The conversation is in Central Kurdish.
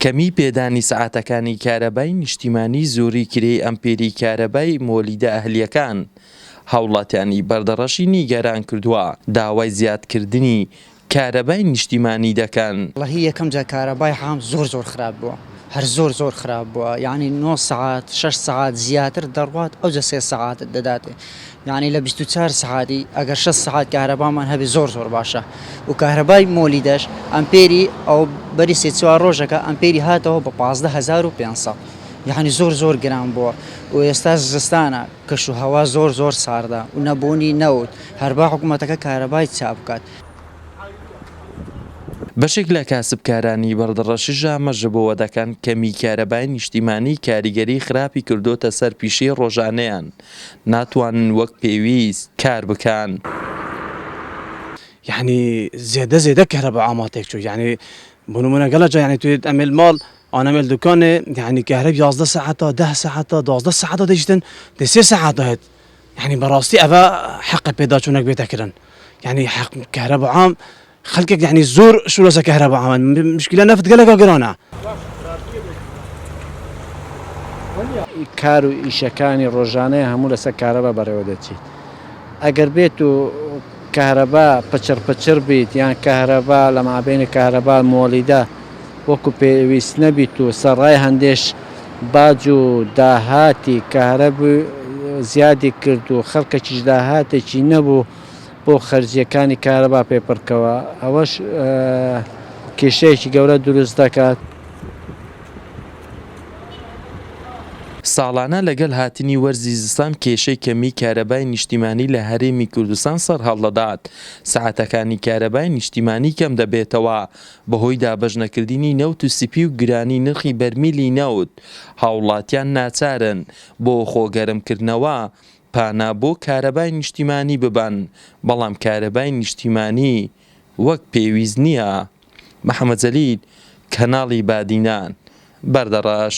کەمیی پێدانی سەعاتەکانی کارەبای نیشتیمانی زۆری کرێی ئەمپێری کارەبای مۆلیدە ئەهلییەکان هاوڵاتیانی بەردەڕەشی نیگەران کردووە داوای زیادکردنی کارەبای نیشتیمانی دەکەن. وەڵاهی یەکەم جار کارەبای حام زۆر زۆر خراپ بوە هەر زۆر زۆر خراپ بوە یانی نۆ سەعات شەش سەعات زیاتر دەڕوات ئەوجە سێ سەعاتت دەداتێ یانی لە بیست و چوار سەعاتی ئەگەر شەست سەعات کارەبامان هەبێ زۆر زۆر باشە و کارەبای مۆلیدەش ئەمپێری ئەو بەری سێ چوار ڕۆژەکە ئەمپێری هاتەوە بە پازدە هەزار و پێنج سەد یانی زۆر زۆر گران بووە و ئێستا زستانە کەش و هەوا زۆر زۆر ساردە و نەبوونی نەوت هەربا حکوومەتەکە کارەبای چاک بکات. بەشێک لە کاسبکارانی بەردەڕەشی ژامە ژبەوە دەکەن، کەمیی کارەبای نیشتیمانی کاریگەریی خراپی کردووەتە سەر پیشەی ڕۆژانەیان، ناتوانن وەک پێویست کار بکان. یەعنی زێدە زێدە کەهرەبا ئاما تێک چوو یەعنی بۆ نموونە گەلە جا یەعنی توێت ئەمێل ماڵ ئان ئەمێل دوکانێ یەعنی کەهرەب یازدە سەعاتا دەه سەعاتا دوازدە سەعاتا دەیشتن دەی سێ سەعات داێت یەعنی بەڕاستی ئەڤە حەقە پێداچوونەک بێتە کرن یەعنی حەق کەهرەبا عام خەلکێک یەعنی زۆر شورەسە کەهرەبا ئەمن مشکلە نەفت گەلەکە گرانە. کار و ئیشەکانی ڕۆژانەیە هەموو لەسەر کارەبا بەڕێوە دەچیت ئەگەر بێت و کارەبا پچڕ پچڕ بیت یان کارەبا لە مابینی کارەبا مۆلیدا وەکو پێویست نەبیت و سەڕای هەندێش باج و داهاتی کارەب زیادی کرد و خەڵکەکیش داهاتێکی نەبوو بۆ خەرجییەکانی کارەبا پێپڕکەوە، ئەوەش کێشەیەکی گەورە دروست دەکات. ساڵانە لەگەل هاتنی وەرزی زستان کێشەی کەمی کارەبای نیشتیمانی لە هەرێمی کوردستان سەرهەڵدەدات، سەعاتەکانی کارەبای نیشتیمانی کەم دەبێتەوە بەهۆی دابەش نەکردنی نەوت و سپی و گرانی نرخی بەرمیلی نەوت، هاوڵاتیان ناچارن بۆ خۆ گەرم کردنەوە پانا بۆ کارەبای نیشتیمانی ببەن، بەڵام کارەبای نیشتیمانی وەک پێویست نییە. محەمەد جەلیل، کەناڵی بادینان، بەردەڕەش.